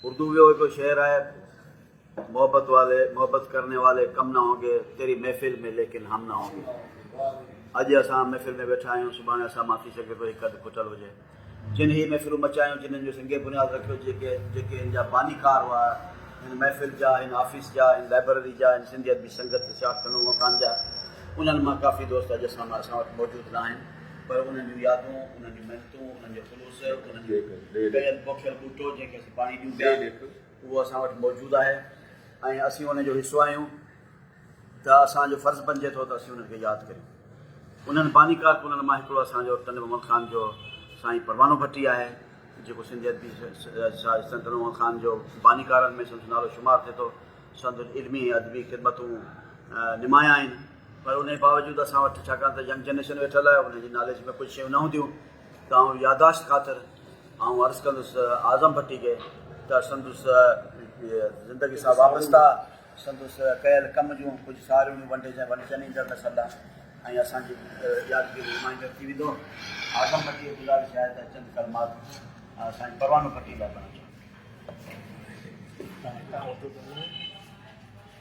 اردو جو هڪ شعر آهي محبت والي محبت ڪرني والي ڪم نه هونگي تيري محفل ۾ ليڪن هم نه هونگي اڄ اسان محفل ۾ ويٺا آهيون سڀاڻي اسان مان ٿي سگهي ٿو هڪ اڌ کٽل هجي جن هي محفلون مچايون جنن جو سنگي بنياد رکيو جيڪي جيڪي هن جا بانيڪار هئا هن محفل جا هن آفيس جا هن لائبرري جا هن سنڌي ادبي سنگت سياحت خانو مڪان جا انهن مان ڪافي دوست اڄ اسان مان اسان وٽ موجود نه آهن پر انهن جون يادون، انهن جون محنتون، انهن جو خلوص، انهن جو ڪيل پوکيل ٻوٽو جنهن کي اسين پاڻي ڏيون پيا، اهو اسان وٽ موجود آهي ۽ اسين ان جو حصو آهيون ته اسان جو فرض بنجي ٿو ته اسين انهن کي ياد ڪريون. انهن باني ڪارڪنن مان هڪڙو اسان جو ٽنڊو محمد خان جو سائين پروانو ڀٽي آهي، جيڪو سنڌي ادبي سائين ٽنڊو محمد خان جو باني ڪارن ۾ سندس نالو شمار ٿئي ٿو. سندس علمي ۽ ادبي خدمتون نمايان آهن. پر انهي باوجود اسان وٽ ڇاڪاڻ ته ينگ جنريشن ويٺل آهي انهن جي ناليج ۾ ڪجهه شيون نه هونديون ته آئون ياداشت خاطر آئون عرض ڪندس اعظم ڀٽي کي ته سندس زندگي سان وابسته سندس ڪيل ڪم جون ڪجهه ساريون ونڊجن ونڊجن ايندڙ نسل لاء ۽ اسان جي يادگيري ريمائنڊر ٿي ويندو اعظم ڀٽي جي گذارش آهي ته چند ڪلمات سائين پروانو ڀٽي لاء پڙهڻ چاهيندو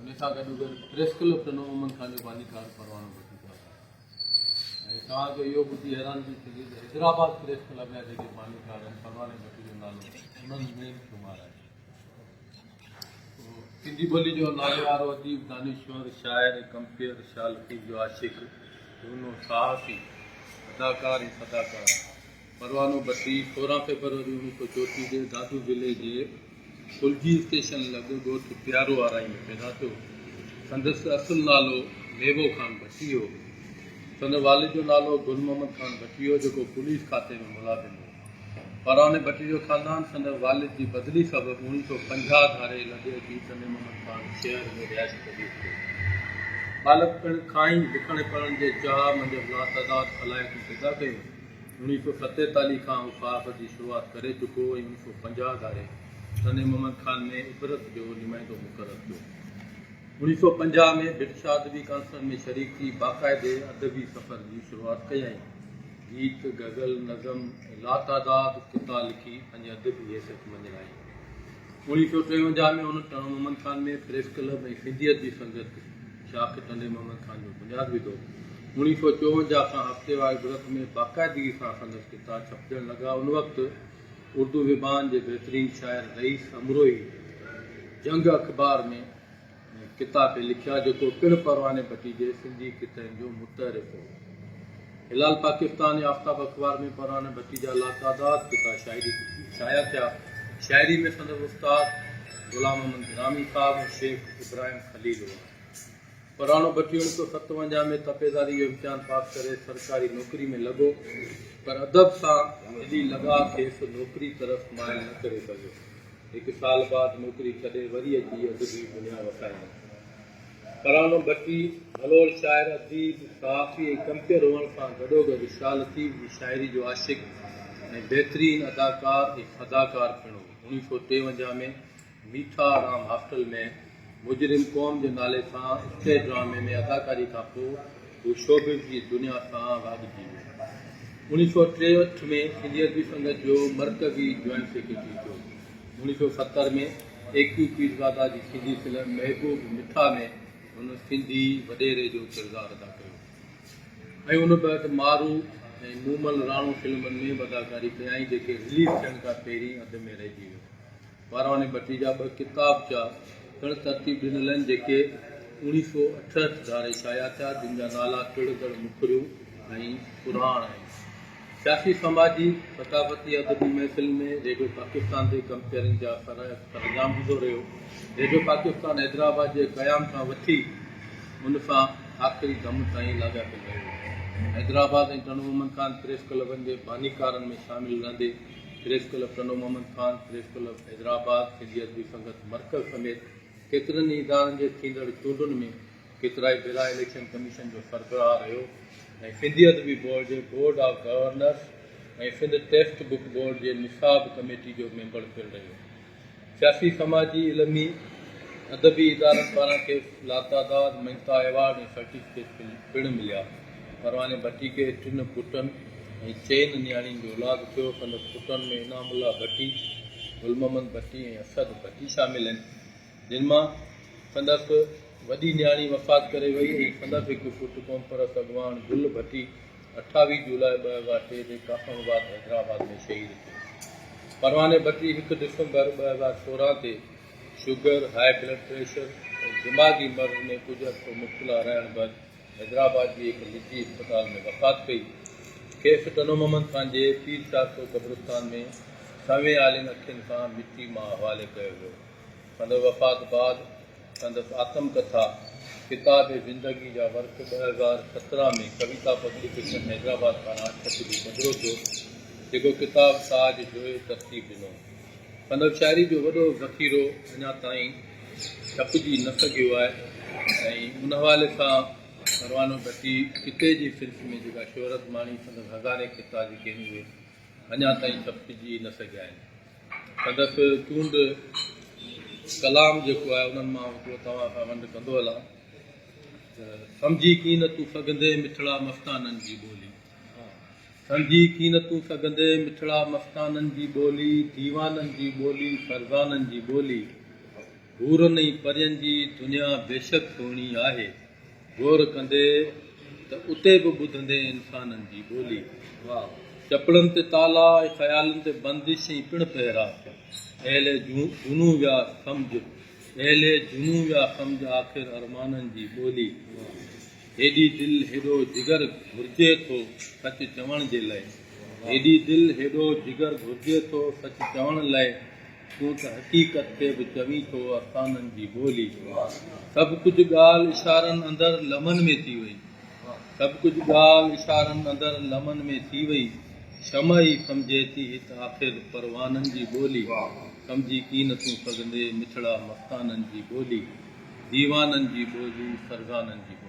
ان سان گڏو گڏ پريس ڪلب ڏنو امن خان جو باني ڪار پروانو به ٽڪرايو آهي ۽ توهان کي اهو ٻڌي حيرانگي ٿيندي ته حيدرآباد پريس ڪلب جا جيڪي باني ڪار آهن پرواني ڀٽي جو نالو انهن ۾ شمار آهي سنڌي ٻولي جو ناليوارو اديب دانشور شاعر ۽ ڪمپيئر شاهه لطيف جو عاشق جهونو ساهسي اداڪار ۽ صداڪار پروانو بتي، سورهن فيبروري اوڻيھ سؤ چوٽيھ جي دادو ضلعي جي پلجي اسٽيشن لڳ ڳوٺ پيارو آرائي ۾ پيدا ٿيو. سندس اصل نالو ميوو خان بتي هو. سندس والد جو نالو گل محمد خان بتي هو، جيڪو پوليس کاتي ۾ ملازم هو. پرواني بتي جو خاندان سندس والد جي بدلي سبب اوڻيھ سؤ پنجاھ ڌاري لڳ اچي سني محمد خان شهر ۾ رهائش پذير ٿيو. ٻالڪپڻ کان ئي لکڻ ۽ پڙهڻ جي چاهه منجهس لاتعداد صلاحيتون پيدا ڪيون. اڻويهه سؤ ستيتاليهه کان هو صحافت جي شروعات ڪري چڪو ۽ اڻويهه سؤ پنجاهه ڌاري سني محمد خان ۾ عبرت جو نمائندو مقرر ٿيو. اڻويهه سؤ پنجاهه ۾ برٽشا ادبي ڪانسرن ۾ شريڪ ٿي باقاعدي ادبي سفر جي شروعات ڪيائين. گيت، غزل، نظم ۽ لاتعداد قطعا لکي پنهنجي ادبي حيثيت مڃرايائين. اڻيهه سؤ ٽيونجاهه ۾ هن ٽڻ محمد خان ۾ پريس ڪلب ۽ سنڌيت جي سنگت شاخ ٽنڊي محمد خان جو بنياد وڌو. اڻيهه سؤ چوونجاهه کان هفتيوار عبرت ۾ باقاعدگي سان سندس ڪتا ڇپجڻ لڳا ان وقت اردو زبان جي بهترين شاعر رئيس امروهي جنگ اخبار ۾ ڪتا کي لکيا جيڪو پڻ پرواني ڀٽي جي سنڌي ڪتن جو متعرف هو. هلال پاڪستان ۽ آفتاب اخبار ۾ پرواني ڀٽي جا لاتعداد ڪتا شاعري کي شايع ٿيا. شاعري ۾ سندس استاد غلام محمد گرامي صاحب ۽ شيخ ابراهيم خليل هئا. پروانو ڀٽي اوڻيھ سؤ ستونجاھ ۾ تپيداري جو امتحان پاس ڪري سرڪاري نوڪري ۾ لڳو پر ادب سان دلي لڳاء کيس نوڪري طرف مائل نه ڪري سگهيو. هڪ سال بعد نوڪري ڇڏي وري اچي ادبي دنيا وسايائين. ترانو ڀٽي ڀلور شاعر، اديب، صحافي ۽ ڪمپيئر هئڻ سان گڏوگڏ شاهه لطيف جي شاعري جو عاشق ۽ بهترين اداڪار ۽ اداڪار پڻ هو. اوڻيهه سؤ ٽيونجاهه ۾ ميٺا رام هاسٽل ۾ مجرم قوم جي نالي سان اسٽيج ڊرامي ۾ اداڪاري کان پوء هو شوبز جي دنيا سان واڳجي ويو. اوڻيهه سؤ ٽيهٺ ۾ سنڌي ادبي سنگت جو مرڪزي جوائنٽ سيڪريٽري ٿيو. اوڻيهه سؤ ستر ۾ اي ڪيو پيرزاده جي سنڌي فلم محبوب مٺا ۾ هن سنڌي وڏيري جو ڪردار ادا ڪيو ۽ ان بعد مارو ۽ مومل راڻو فلمن ۾ به اداڪاري ڪيائين جيڪي رليز ٿيڻ کان پهرين اڌ ۾ رهجي ويو. بارواڻي ڀٽي جا ٻه ڪتابچا پڻ ترتيب ڏنل آهن، جيڪي اوڻيهه سؤ اٺهٺ ڌاري شايع ٿيا، جن جا نالا ٽڙندڙ مکريون ۽ پراڻ آهن. سياسي، سماجي، ثقافتي، ادبي محفلن ۾ ريڊيو پاڪستان تي ڪمپيئرنگ جا سرانجام ڏيندو رهيو. ريڊيو پاڪستان حيدرآباد جي قيام کان وٺي ان سان آخري دم تائين لاڳاپيل رهيو. حيدرآباد ۽ ٽنڊومن خان پريس ڪلبن جي بانيڪارن ۾ شامل رهندي، press club Tando Muhammad Khan, press club Hyderabad, Sindhi Adabi Sangat مرڪز سميت ڪيترن ئي ادارن جي ٿيندڙ چونڊن ۾ ڪيترائي ڀيرا اليڪشن ڪميشن جو سربراهه رهيو ۽ سنڌي ادبي بورڊ جي board of governors ۽ Sindh text book board جي نصاب ڪميٽي جو ميمبر پڻ رهيو. سياسي، سماجي، علمي، ادبي ادارن پاران کيس لاتعداد مڃتا، ايوارڊ ۽ سرٽيفڪيٽ پڻ مليا. پرواني ڀٽي کي ٽن پٽن ۽ چئن نياڻين جو اولاد ٿيو. سندس پٽن ۾ انعام الله ڀٽي، گل محمد ڀٽي ۽ اسد ڀٽي شامل آهن، جن مان سندس وڏي نياڻي وفات ڪري وئي ۽ سندس هڪ پٽ قومپرست اڳواڻ گل ڀٽي اٺاويهه جولاء ٻه هزار ٽي تي ڪافم آباد حيدرآباد ۾ شهيد ٿيو. پرواني ڀٽي هڪ ڊسمبر ٻه هزار سورهن تي شگر، هاء بلڊ پريشر ۽ دماغي مرض ۾ ڪجهه عرصو مبتلا رهڻ بعد حيدرآباد جي هڪ نجي اسپتال ۾ وفات ڪئي. کيس ٽنو محمد خان جي پير چار سو قبرستان ۾ سنوين آلين اکين سان مٽي مان حوالي ڪيو ويو. سندس وفات بعد. سندس آتم ڪٿا ڪتاب زندگي جا ورق ٻه هزار سترهن ۾ ڪويتا پبليڪيشن حيدرآباد پاران ڇپجي پڌرو ٿيو، جيڪو ڪتاب تاج جويي ترتيب ڏنو. سندس شاعري جو وڏو ذخيرو اڃا تائين ڇپجي نه سگهيو آهي ۽ ان حوالي سان پروانو ڀٽي ڪتي جي صنف ۾ جيڪا شهرت ماڻي سندس هزارين ڪتا جيڪي آهن اهي اڃا تائين ڇپجي نه سگهيا آهن. ادب تون به ڪلام جيڪو آهي انهن مان هڪڙو توهان کان ونڊ ڪندو هلان ته سمجهي ڪين نه تون سگهندين مٺڙا مستانن جي ٻولي سمجهي ڪين نه تون سگهندين مٺڙا مستانن جي ٻولي ديوانن جي ٻولي فرزانن جي ٻولي حورن ۽ پرين جي دنيا بيشڪ سهڻي آهي، غور ڪندي ته اتي به ٻڌندين انسانن جي ٻولي. چپڙن تي تالا ۽ خيالن تي بندش ۽ پڻ پهرا ٿيا. اهل جنون ويا سمجھ، اهل جنون ويا سمجھ آخر ارمانن جي ٻولي. هيڏي دل هيڏو جگر گهرجي ٿو سچ چوڻ جي لئه، هيڏي دل هيڏو جگر گهرجي ٿو سچ چوڻ لئه. تون ته حقيقت کي به چوين ٿو افسانن جي ٻولي. سڀ ڪجهه ڳالهه اشارن اندر لمحن ۾ ٿي وئي. سڀ ڪجهه ڳالهه اشارن اندر لمحن ۾ ٿي وئي. شمع ئي سمجهي ٿي هت آخر پروانن جي ٻولي. سمجهي ڪي نه ٿون سگهندي مٺڙا مستانن جي ٻولي. ديوانن جي ٻولي فرزانن جي ٻولي.